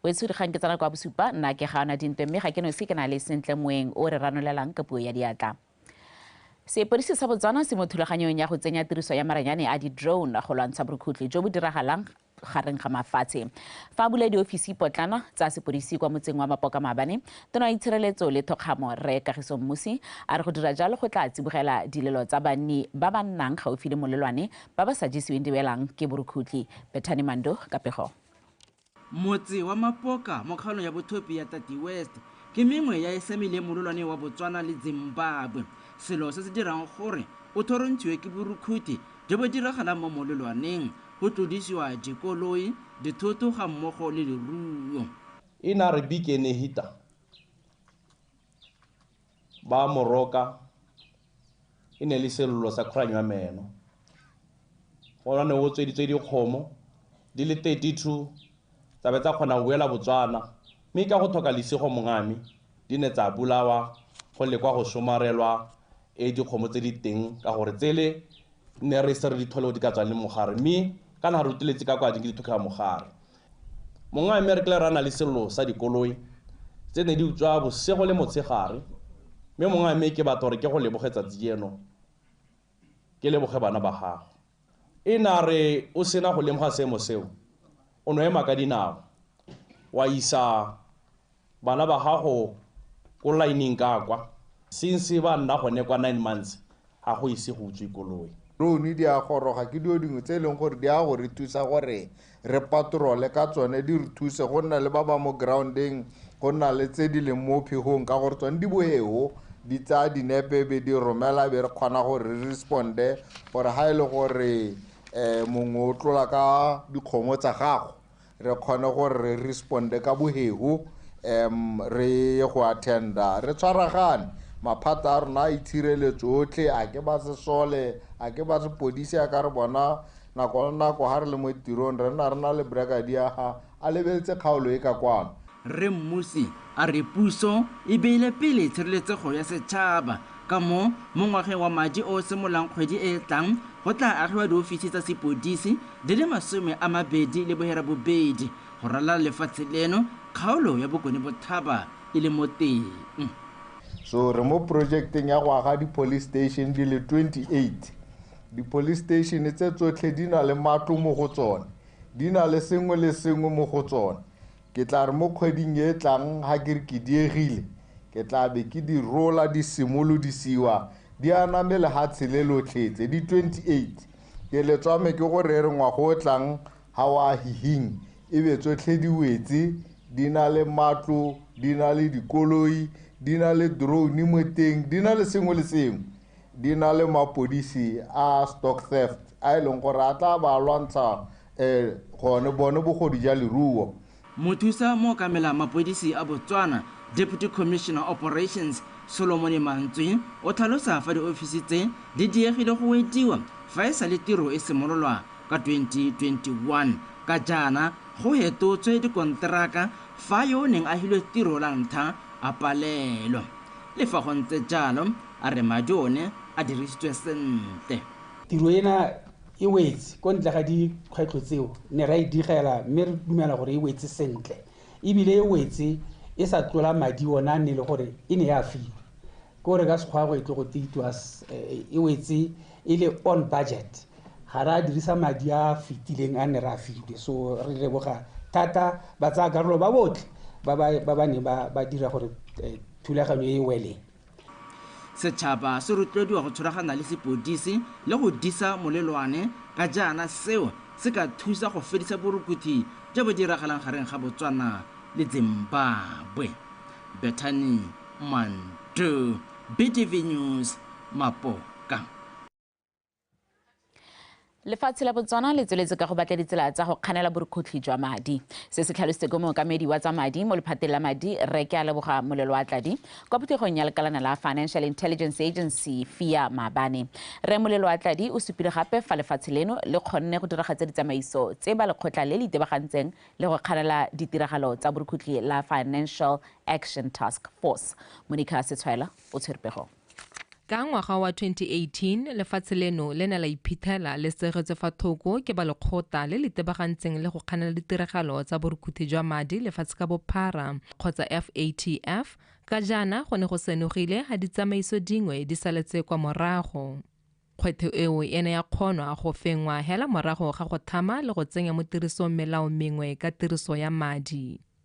wetshudi kgang ke tsena kwa bosupa nna ke ga ona dintwe mme ga ke nosi ke na le sentle moeng o re ranolelang ka puo ya diatla sepodisi sa botswana se mo thulaganyong ya go tsenya tiriso ya maranyane a di-drone go lwantsha borukhutli jo bo diragalang gareng ga mafatshe fa a bula diofisi potlana tsa sepodisi kwa motseng wa mapoka maabane tona wa itshireletso le thokgamo re kagiso mmusi a re go dira jalo go tla tsibogela dilelo tsa banni ba ba nnang gaufi le molelwane Ba ba sa jesiweng diwelang ke borukhutlhi. Bethany Mando ka pego. Motse wa Mapoka mo kgaolong ya Bothopi ya Tati West ke mengwe ya e samileng mololwane wa Botswana le Zimbabwe. Selo se se dirang gore o thorontshiwe ke borukhuthi jo bo diragalang mo mololwaneng, go tlodisiwa dikoloi, dithoto ga mmogo le leruo. Inari Bike Nehita Ba mo roka, e ne e le sello sa khuranyo ya meno. Go ne go tsweditswe dikgomo di le 32 tsa be tsa kgona go boela Botswana mme ka go tlhoka lesego mongame di ne tsa bolawa go lekwa go somarelwa e dikgomo tse di teng ka gore tsele ne re ise re di thole go di ka tswang le mogare mme kana re ruteletse ka kwa di ke di thokgela mogare. Mongwe a Emerkler a na le sello sa dikoloi tse ne di utswa bosigo le motshegare mme mongwe a me ke batla gore ke go leboge tsatsi jeno ke leboge bana ba gago. E ne a re o sena go lemoga seemo seo o no ema ka dinao wa isa Bana ba gago ko laeneng ka kwa. Since ba nna gone kwa nine months ga go ise go utswe koloi. Drone di a goroga ke dilo dingwe tse e leng gore di ya go re thusa gore re patrole ka tsone, di re thuse go nna le ba ba mo ground-eng, go nna le tse di leng mo phegong ka gore tsone di boeo di tsaya dinepe e be di romela e be re kgona gore re respond-e gore ga e le gore um mongwe o tlola ka dikgomo tsa gago. re kgone gore re responde ka bohego um re ye go attenda re tshwaragane maphata a rona a itshireletso otlhe a ke ba sesole a ke ba sepodisi a ka re bona nako le nako ga re le mo tirong re nna re na le bragadia ga a lebeletse kgaolo e ka kwano Rre Mmusi a re puso e beile pele tshireletsego ya setšhaba ka moo mo ngwageng wa madi o o simololang kgwedi e e tlang go tla agiwa diofisi tsa sepodisi di le masome a mabedi le bohera bobedi go ralala lefatshe leno kgaolo ya Bokone Bothaba e le mo teng. So re mo projekteng ya go aga di-police station di le 28. Di-police station tse tsotlhe di na le matlo mo go tsone, di na le sengwe le sengwe mo go tsone. Ke tla re mo kgweding e e tlang ga ke re ke diegile, ke tla be ke di rola di simolodisiwa di aname lehatshe le lotlhe tse di 28. Ke le tswame ke go rere ngwaga o o tlang ga o a hihing e be tsotlhe di wetse, di na le matlo, di na le dikoloi, di na le drone mo teng, di na le sengwe le sengwe. di na le mapodisi a stock theft a e leng gore a tla ba lwantsha um gone bone bogodu ja leruo Mothusa mookamela mapodisi a Botswana, Deputy Commissioner Operations, Solomone Mantswe o tlhalosa fa diofisi tse di diegile go wediwa fa e sale tiro e simololwa ka 2021. Ka jaana go hetotswe dikonteraka fa yo o neng a hilwe tiro la ntlha a palelwa. Le fa go ntse jalo, a re madi one a dirisitswe sentle. Tiro ena e wetse ko ntle ga dikgwetlho tseo ne ra e digela mme re dumela gore e wetse sentle ebile e wetse e sa tlola madi ona a ne le gore e ne ya filwe ko re ka sekgwago e tlo go it was eh, e wetse e le on budget ga ra dirisa madi a fetileng a ne ra filwe so re leboga thata ba tsaya karolo ba botlhe ba ba ne ba dira gore eh, thulaganyo e weleng Setšhaba se rotloediwa go tshwaragana le sepodisi le go disa molelwane ka jaana seo se ka thusa go fedisa borukuthi jo bo diragalang gareng ga Botswana le Zimbabwe. Bethany Mandu, BTV News, Mapoka. lefatshe la botswana le tsweletse ka go batla ditsela tsa go kganela borukhutlhi jwa madi se se tlhalositse ko mookamedi wa tsa madi mo lephateng la madi re ke a leboga molelo wa tladi kwa phuthegong ya lekalana la financial intelligence agency fia maabane re molelo wa tladi o supile gape fa lefatshe leno le kgonne go diragatsa ditsamaiso tse ba lekgotla le le itebagantseng le go kganela ditiragalo tsa borukhutlhi la financial action task force monica setshwaela o tshwerepegong Ka ngwaga wa 2018, lefatshe leno le ne la iphitlhela le segetswe fa thoko ke ba lekgotla le le tebagantseng le go kganela ditiragalo tsa borukuthi jwa madi lefatshe ka bophara, kgotsa FATF, ka jaana go ne go senogile ga ditsamaiso dingwe di saletse kwa morago. Kgwetho eo e ne ya kgonwa go fenngwa hela morago ga go thama le go tsenya mo tirisong melao mengwe ka tiriso ya madi.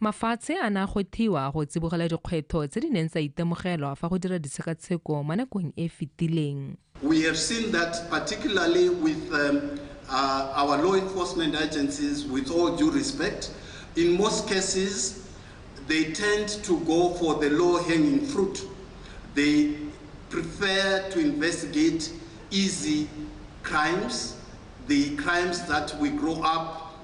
Mafatshe a ne a gothiwa go tsibogela dikgwetlho tse di neng tsa itemogelwa fa go dira ditshekatsheko mo nakong e e fetileng. We have seen that particularly with our law enforcement agencies, with all due respect, in most cases they tend to go for the low hanging fruit, they prefer to investigate easy crimes, the crimes that we grow up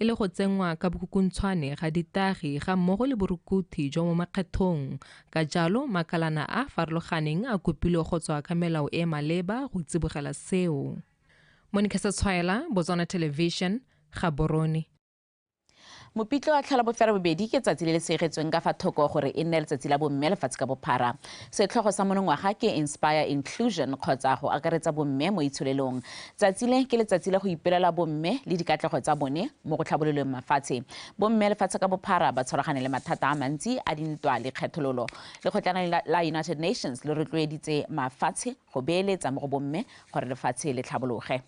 e le go tsenngwa ka bokhukuntshwane ga ditagi ga mmogo le borukuthi jwa mo makgethong ka jalo makalana a a farologaneng a kopilwe go tswa ka melao e maleba go tsibogela seo monica setshwaela botswana television ga borone mopitlo wa tlhola bofera bobedi ke tsatsi le le segetsweng ka fa thoko gore e nne letsatsi la bomme lefatshe ka bophara setlhogo sa monongwaga ke inspire inclusion kgotsa go akaretsa bomme mo itsholelong Tsatsi le ke letsatsi la go ipelela bomme le dikatlego tsa bone mo go tlhabololeng mafatshe. Bomme lefatshe ka bophara ba tshwaragane le mathata a mantsi a dintwa le kgethololo. Lekgotlana la United Nations le rotloeditse mafatshe go beeletsa mo go bomme gore lefatshe le tlhabologe.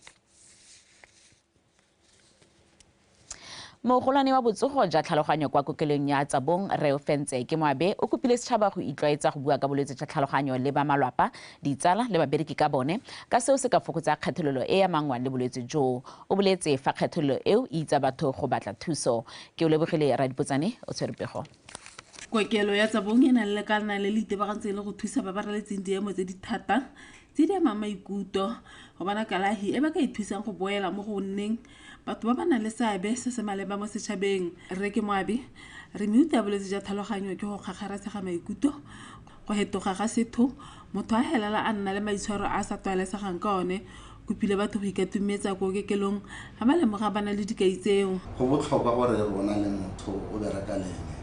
Mogolwane wa botsogo ja tlhaloganyo kwa kokelong ya Tsabong, Rre Ofentse ke Moabe o kopile setšhaba go itlwaetsa go bua ka bolwetse jwa tlhaloganyo le ba malwapa, ditsala le babereki ka bone ka seo se ka fokotsa kgethololo e e amangwang le bolwetse jo. O boletse fa kgethololo eo e itsa batho go batla thuso. Keolebogile Radipotsane o tshwere pego. Kokelo ya Tsabong e na le lekalana le le itebagantseng le go thusa ba ba raletseng diemo tse di thata tse di amang maikutlo go bona kalahi e ba ka ithusang go boela mo go nneng batho ba ba nang le seabe se se maleba mo setšhabeng re ke moabi re meuta ya bolwetse jwa tlhaloganyo ke go kgakgaratshega maikutlo go hetoga ga setho motho a helela a nna le maitshwaro a sa tlwaelesegang ka one kopile batho go ikatumetsa ko okekelong Ga ba lemoga ba na le dikai tseo. Go botlhokwa gore e re o na le motho o bereka le ene,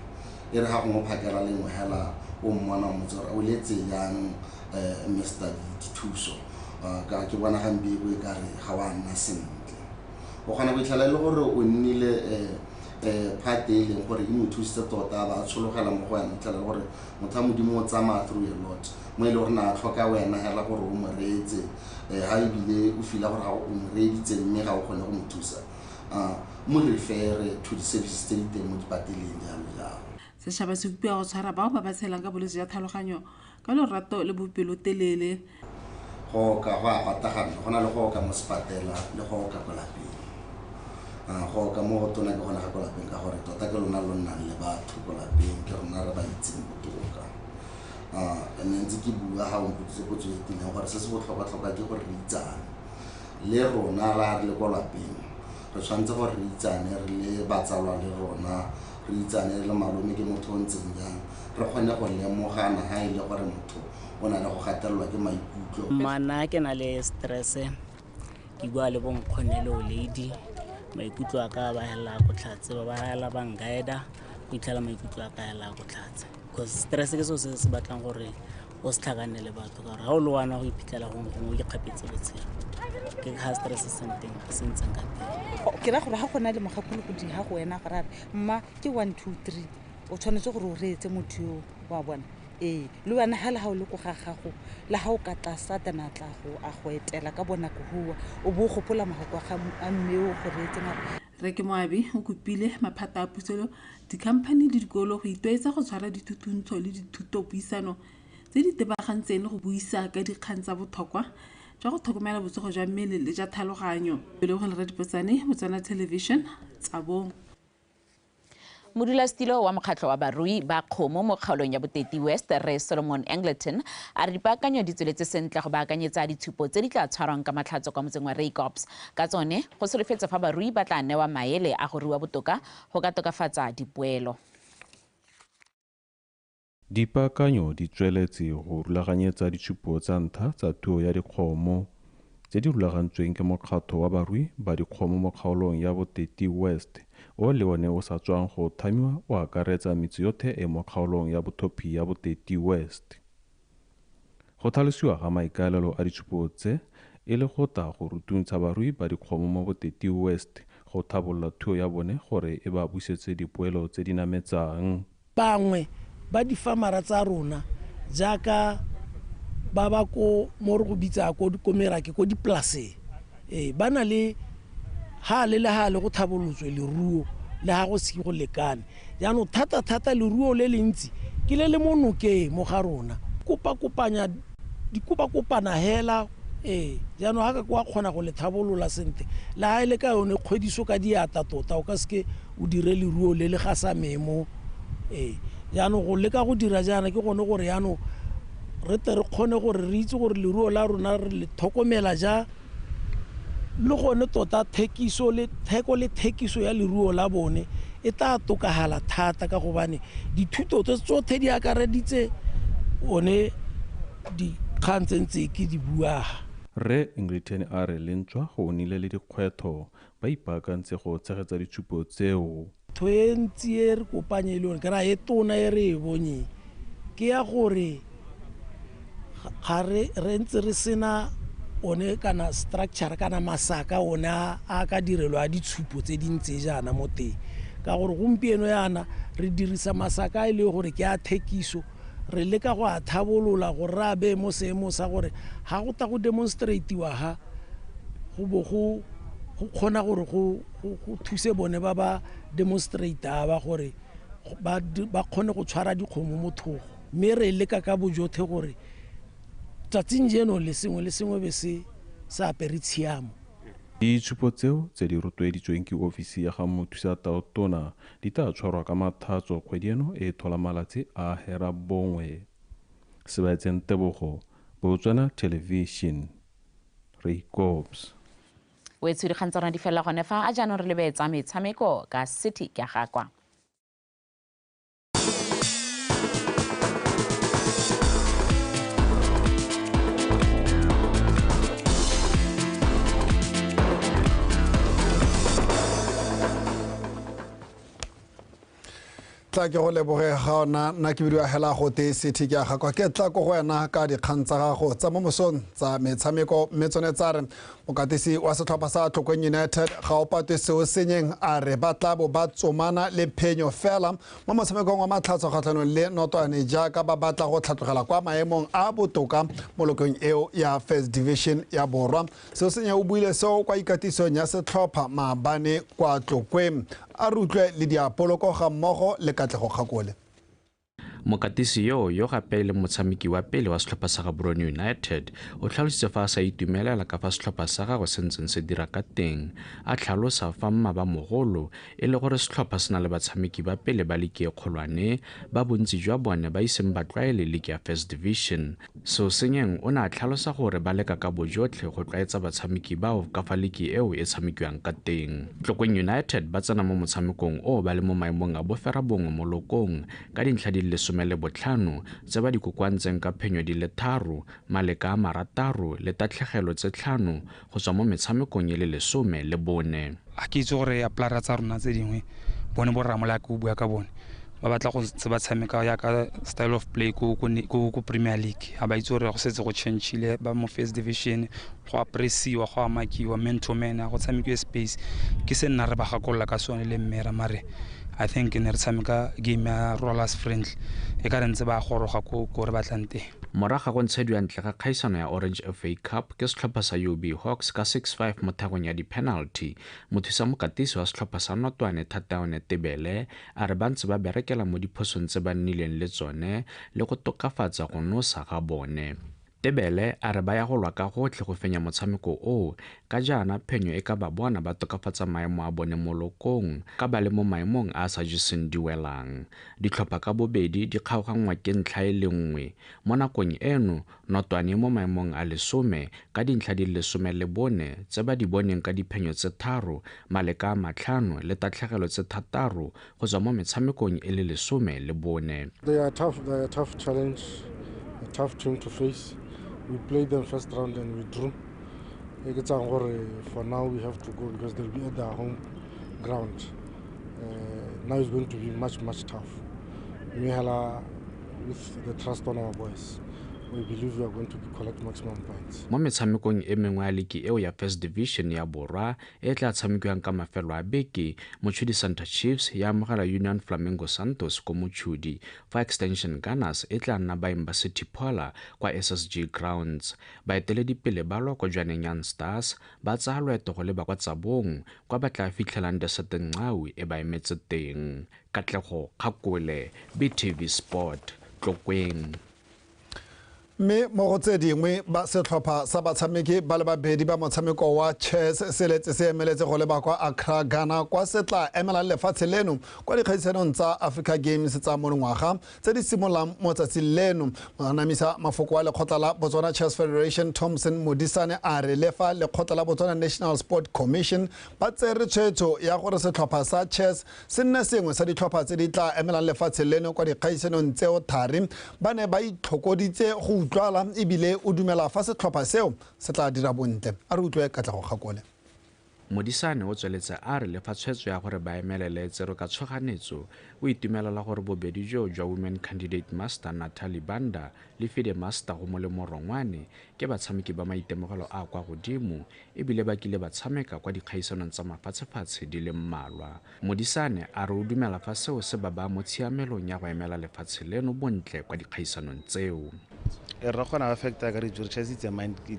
e re ga gongwe o phakela lengwe hela o mmona o motse gore o letse jang Mister Dithuso, ka ke bona ga mpe e bo e ka re ga wa nna sentle. O kgona go itlhela e le gore o nnile part e e leng gore e mo thusitse tota a ba a tshologela mo go wena, o itlhela e le gore motho wa Modimo o tsamaya through a lot mo e le gore ne a tlhoka wena hela gore o mo reetse. um ga ebile o fila gore ga o mo reeditse mme ga o kgone go mo thusa um mo refere to di-services tse di teng mo dipateleng jalo jalo setšhaba se bopiwa go tshwara bao ba ba tshelang ka bolwetse jwa tlhaloganyo ka lorato le bopelotelele go oka go a patagana go na le go oka mo sepatela le go oka ko lapeng Ah, go oka mo go tona ke gona ga ko lapeng ka gore tota ke lona lo nnang le batho ko lapeng ke rona re ba itseng botoka um and then tse ke bua ga o mpotsitse potso e tileng gore se se botlhokwa-tlhokwa ke gore re itsane le rona ra re le kwa lapeng re tshwanetse gore re itsane re le batsalwa le rona re itsane re le malome ke motho o ntseng jang re kgone go lemogana ga e le gore motho o na le go gatelelwa ke maikutlo mana ke na le stresse ke bua le bonkgonne le o lady maikutlo a ka ba helela ko tlhatse ba ba helela ba nkaeda go itlhela maikutlo a ka helela ko tlhatse because stress ke seo se se batlang gore o se tlhakanne le batho ka gore ga o le wana go iphitlhela gongwe gongwe o ikgapetse botshelo ke ga stress se senteng se ntseng ka teng ke ra gore ga gona le mogakolo godimo ga go wena gore are mma ke one two three o tshwanetse gore o reetse motho yo wa bona ee le wena ga le ga o le ko ga gago le ga o ka tla satana tla go a go etela ka bonako goa o bo o gopola mogako wa ga a mmeo go reetse mare Rre ke Moabi o kopile maphata a puso, dikhamphani le dikolo go itwaetsa go tshwara dithutuntsho le dithutopuisano tse di tebagantseng le go buisa ka dikgang tsa bothokwa jwa go tlhokomela botsogo jwa mmele le jwa tlhaloganyo. Lebogang Lerato Diphotsane, Botswana Television, Tsabong. Modulasetilo wa mokgatlho wa barui ba kgomo mo kgaolong ya Boteti West, Rre Solomon Angleton, a re dipaakanyo di tsweletse sentle go baakanyetsa ditshupo tse di tla tshwarwang ka Matlhatso kwa motseng wa Reikops. Ka tsone, go solofetse fa barui ba tla newa maele a go rua botoka go ka tokafatsa dipoelo. Dipaakanyo di tsweletse go rulaganyetsa ditshupo tsa ntlha tsa tuo ya dikgomo, tse di rulagantsweng ke mokgatlho wa barui ba dikgomo mo kgaolong ya Boteti West, o le one o sa tswang go thamiwa o akaretsa metse yotlhe e mo kgaolong ya bothophi ya Boteti West. Go tlhalosiwa ga maikaelelo a ditshupo tse e le go tla go rutuntsha barui ba dikgomo mo Boteti West go tlhabolola thuo ya bone gore e ba busetse dipoelo tse di nametsang. Bangwe ba difamara tsa rona jaaka ba ba ko mo re go bitsa ko ko merake ko dipolaseng ee ba na le hale le hale go tlhabolotswe leruo le ha go se go lekane jaanong thata-thata leruo le le ntsi ke le le mo nokeng mo ga rona kopa-kopanya di kopa kopana hela ee jaanong ga ka kwa kgona go le tlhabolola sentle le ga e le ka yone kgwediso ka diata tota o ka seke o dire leruo le le ga sa memo ee jaanong go leka go dira jaana ke gone gore yaanong re tle re kgone gore re itse gore leruo la rona re le tlhokomela ja Le gone tota thekiso le theko le thekiso ya leruo la bone e tla tokagala thata ka gobane dithuto tse tsotlhe di akareditse one dikgang tse ntse ke di buaga. Rre Ngritheni a re lentswa go nnile le dikgwetho Ba ipaakantse go tshegetsa ditshupo tseo. Ntho e ntsi e re kopanye e le gore kana e tona e re e bonyeng ke ya gore ga re ntse re sena one kana structure kana masaka one a ka direlo a ditshupo tse di ntse jaana mo teng ka gore gompieno yana re dirisa masaka a e le gore ke a thekiso re leka go a tlhabolola gore re a beye mo seemong sa gore ga go ta go demonstratiwa ga go bo go go kgona gore go thuse bone ba ba demonstrata ba gore ba kgone go tshwara dikgomo mo thogo mme re leka ka bojothe gore tsatsing jeno le sengwe le sengwe be se sa apere tshiamo Ditshupo tseo tse di rotloeditsweng ke ofisi ya ga Mothusa Tona Di tla tshwarwa ka Mathatso kgwedi eno e thola malatsi a herabongwe. Sebaetseng Tebogo, Botswana Television, re ikops. Wetsho dikgang tsa rona di felela gone fa, a jaanong re lebe tsa metshameko ka City Kyagakwa. tla ke go leboge ga ona nna ke bidiwa hela go te sethe ke aga kwa ke tla ko go wena ka dikgang tsa gago tsa mo mosong tsa metshameko mme tsone tsa re mokatisi wa setlhopha sa tlhokweng united ga o patwe seo senyeng a re ba tla bo ba tsomana le phenyo fela mo motshamekong wa matlhatso kgatlhanong le notwane jaaka ba batla go tlhatlogela kwa maemong a botoka mo lokong eo ya first division ya borwa Sesenya o buile seo kwa ikatisong ya setlhopha maabane kwa Tlokwe. A re utlwe le diapoloko ga mmogo le Katlego Kgakole. Mokatisi yo yo gape e leng motshameki wa pele wa setlhopha sa Gaborone United o tlhalositse fa a sa itumelela ka fa setlhopha sa gagwe se ntseng se dira ka teng a tlhalosa fa mmaba mogolo e le gore setlhopha se na le batshameki ba pele ba liki e kgolwane ba bontsi jwa bone ba iseng ba tlwaele liki ya First Division Seosenyeng o ne a tlhalosa gore ba leka ka bojotlhe go tlwaetsa batshameki bao ka fa liki eo e tshamekiwang ka teng. Tlokeng United ba tsena mo motshamekong o ba le mo maemong a boferabongwe mo lokong ka dintlha di le lesome le botlhano tse ba di kokoantseng ka phenyo di le tharo, maleka a marataro le tatlhegelo tse tlhano go tswa mo metshamekong e le lesome le bone. Ga ke itse gore aplara tsa rona tse dingwe bone bo rramolaya ke o bua ka bone ba batla go ntse ba tshameka yaka style of play ko premier league ga ba itse gore go setse go changile ba mo first division go apresiwa go amakiwa man to man a go tshamekiwe space ke se nna re ba gakolola ka sone le mmera mare i think ne re tshameka game ya rollers friendly e ka re ntse ba goroga ko ko re batlang teng Morago ga go ntshediwa ntle ga kgaisano ya Orange FA Cup ke setlhopha sa UB Hawks ka 6-5 mo thagong ya di-penalty, mothusamokatisi wa setlhopha sa Notwane Thataone Tebele a re ba ntse ba berekela mo diphosong tse ba nnileng le tsone le go tokafatsa go nosa ga bone. Tebele a re ba ya go lwa ka gotlhe go fenya motshameko oo, ka jaana phenyo e ka ba bona ba tokafatsa maemo a bone mo lokong ka ba le mo maemong a a sa jeseng diwelang. Ditlhopha ka bobedi di kgaoganngwa ke ntlha e le nngwe. Mo nakong eno, Notwane e mo maemong a lesome ka dintlha di le lesome le bone tse ba di boneng ka diphenyo tse tharo, maleka a matlhano le tatlhegelo tse thataro go tswa mo metshamekong e le lesome le bone. They are tough, they are tough challenge, a tough team to face. We played them first round and we drew. E ke tsang gore for now we have to go because they'll be at their home ground. uh, now it's going to be much, much tough. Mihela, with the trust on our boys, we believe we are going to collect maximum points. mo metshamekong e mengwe ya liki eo ya first division ya borwa e e tla tshamekiwang ka mafelo a beke motshudi santa chiefs ya amogela union flamingo santos ko motshudi fa extension gunners e tla nna baeng ba city pola kwa ssg grounds baeteledipele ba lwa ko jwaneng young stars ba tsaya loeto go leba kwa Tsabong kwa ba tla fitlhelang Desert Nqawi e ba emetse teng. Katlego Kgakole, BTV Sport, Tlokweng. Mme mo go tse dingwe ba setlhopha sa batshameki ba le babedi ba motshameko wa chess se letse se emeletse go leba kwa Accra, Ghana kwa se tla emelang lefatshe leno kwa dikgaisanong tsa Africa Games tsa monongwaga tse di simololang mo tsatsing leno go anamisa mafoko wa lekgotla la botswana chess federation thompson modisane a re le fa lekgotla la botswana national sport commission ba tsere tshwetso ya gore setlhopha sa chess se nne sengwe sa ditlhopha tse di tla emelang lefatshe leno kwa dikgaisanong tseo thari ba ne ba itlhokoditse go utlwala ebile o dumela fa setlhopha seo se tla dira bontle a re utlwe katlego kgakole Modisane o tsweletse a re le fa tshwetso ya gore ba emelele e tserwe ka tshoganetso, o itumelela gore bobedi joo jwa Women Candidate Master Nathalie Banda le Fide Master go Molemo Rongwane ke batshameki ba maitemogelo a a kwa godimo e bile ba kile ba tshameka kwa dikgaisanong tsa mafatshefatshe di le mmalwa. Modisane a re o dumela fa seo se ba baya mo tshiamelong ya go emela lefatshe leno bontle kwa dikgaisanong tseo. e rra kgona affecta ka dijo just it's a mind ke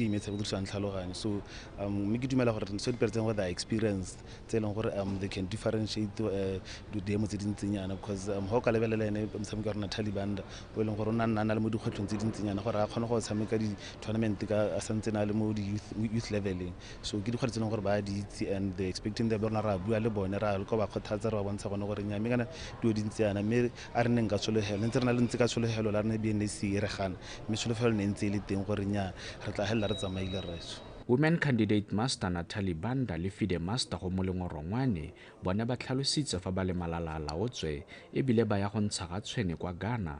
imetshe go dirisang tlhaloganyo so um, mme ke dumela gore so dipereseng gore they experience tse e leng gore um they can differentiate uh, didemo tse dintsenyana because um ga o ka lebelela ene motshameko wa rona talibanda o e leng gore o nna na le mo dikgwetlhong tse dintsenyana gore a kgone go tshameka di-tournament ka a santse na le mo di-youth leveleng so ke dikgwedi tse leng gore ba di itse and they expecting the rona ra bua le bone ra le ko ba kgothatsa re ba bontsha gone gore nyame kana dilo di ntse yana mme a re neng ka tshologelo ne ntse re na le ntse ka tshologelo la rene bnc e re gana mme tsholofelo ne ntse e le teng gore nya re tla helela re tsamaile rraetso Women candidate master Natalie Banda le fide master go molengwe Rongwane bone ba tlhalositse fa ba le malala a laotswe ebile ba ya go ntsha ga tshwene kwa Ghana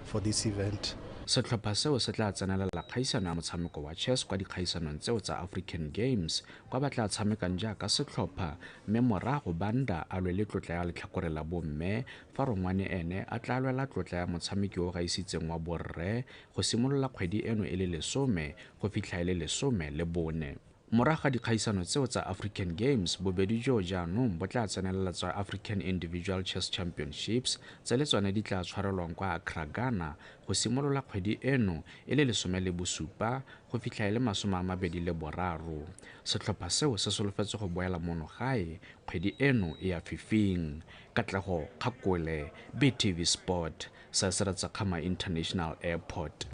for this event. Setlhopha seo se tla tsenelela kgaisano ya motshameko wa chess kwa dikgaisanong tseo tsa African Games, kwa ba tla tshamekang jaaka setlhopha mme morago Banda a lwele tlotla ya letlhakore la bomme fa Rongwane ene a tla lwela tlotla ya motshameki yo o gaisitseng wa borre go simolola kgwedi eno e le lesome go fitlha e le lesome le bone. Morago ga dikgaisano tseo tsa African Games, bobedi joo jaanong bo tla tsenelela tsa African Individual Chess Championships tse le tsone di tla tshwarelwang kwa Accra, Ghana go simolola kgwedi eno e le lesome le bosupa go fitlha e le masome a mabedi le boraro. Setlhopha seo se solofetse go boela mono gae kgwedi eno e ya fifing. Katlego Kgakole, BTV Sport, Saesere Tsekgama International Airport.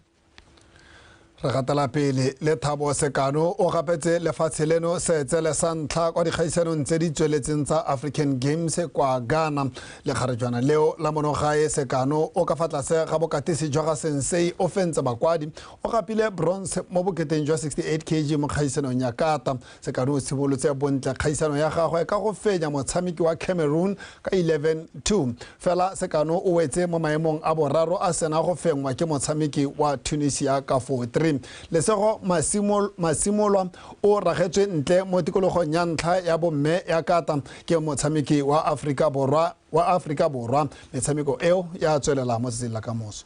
re gatela pele le thabo sekano o gapetse lefatshe leno seetsele sa ntlha kwa dikgaisanong tse di tsweletseng tsa african games kwa ghana lekgarejwana leo la monogae sekano o ka fa tlase ga bokatisi jwa ga sensei o fentse bakwadi o gapile bronze mo boketeng jwa 68 kg mo kgaisanong ya kata Sekano o tshibolotse bontle kgaisano ya gagwe ka go fenya motshameki wa Cameroon ka 11-2. Fela Sekano o wetse mo maemong a boraro a sena go fengwa ke motshameki wa Tunisia ka 4-3. Lesego Masimolwa o ragetswe ntle mo tikologong ya ntlha ya bomme ya kata ke motshameki wa Aforika Borwa wa Aforika Borwa. Metshameko eo ya tswelela mo tsatsing la kamoso.